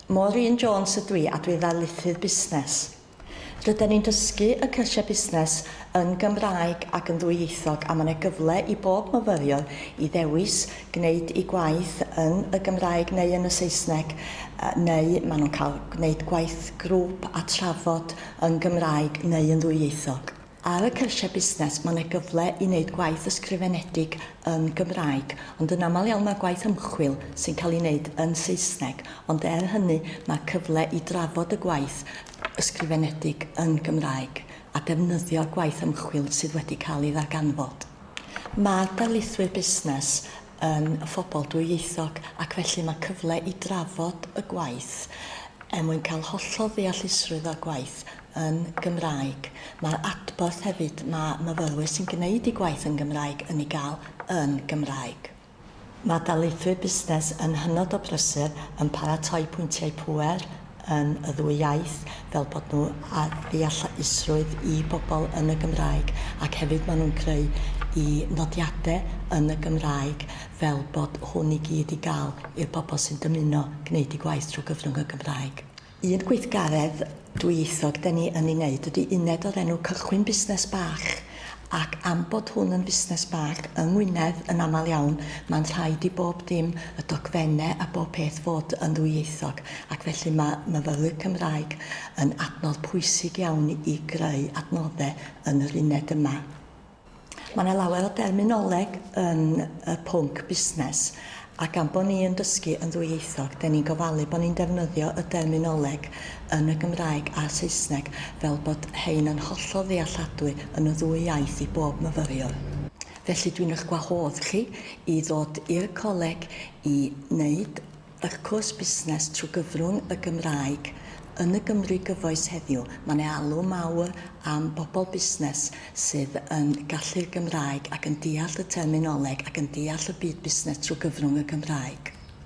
Maureen Jones ydw i a dwi ddarlithydd busnes. Rydan ni'n dysgu y cyrsiau busnes yn Gymraeg ac yn ddwyieithog a mae yna gyfle i bob myfyriwr i ddewis gwneud ei gwaith yn y Gymraeg neu yn y Saesneg neu maen nhw'n cael gwneud gwaith grŵp a trafod yn Gymraeg neu yn ddwyieithog. Ar y cyrsiau busnes, mae yna gyfle i wneud gwaith ysgrifenedig yn Gymraeg, ond yn aml iawn mae gwaith ymchwil sy'n cael ei wneud yn Saesneg, ond er hynny mae cyfle i drafod y gwaith ysgrifenedig yn Gymraeg a defnyddio'r gwaith ymchwil sydd wedi cael ei ddarganfod. Mae'r darlithwyr busnes yn phobl dwyieithog ac felly mae cyfle i drafod y gwaith er mwyn cael hollol ddeallusrwydd o'r gwaith yn Gymraeg. Mae'r adborth hefyd mae myfyrwyr sy'n gwneud eu gwaith yn Gymraeg yn ei gael yn Gymraeg. Mae darlithwyr busnes yn hynod o brysur yn paratoi pwyntiau pŵer yn y ddwy iaith fel bod nhw â deallusrwydd i bobl yn y Gymraeg ac hefyd maen nhw'n creu eu nodiadau yn y Gymraeg fel bod hwn i gyd i gael i'r bobl sy'n dymuno gwneud eu gwaith trwy gyfrwng y Gymraeg. Un gweithgaredd dwyieithog 'da ni yn ei wneud ydy uned o'r enw 'Cychwyn Busnes Bach', ac am bod hwn yn fusnes bach yng Ngwynedd yn aml iawn mae'n rhaid i bob dim, y dogfennau a bob peth fod yn ddwyieithog, ac felly mae myfyrwyr Cymraeg yn adnodd pwysig iawn i greu adnoddau yn yr uned yma. Mae yna lawer o derminoleg yn y pwnc busnes, a gan bod ni yn dysgu yn ddwyieithog, da ni'n gofalu bod ni'n defnyddio y derminoleg yn y Gymraeg a'r Saesneg fel bod hein yn hollol ddealladwy yn y ddwy iaith i bob myfyriwr. Felly, dwi'n eich gwahodd chi i ddod i'r coleg i wneud Wrth cwrs busnes trwy gyfrwng y Gymraeg. Yn y Gymru gyfoes heddiw, mae 'na alw mawr am bobl busnes sydd yn gallu'r Gymraeg ac yn deall y terminoleg ac yn deall y byd busnes trwy gyfrwng y Gymraeg.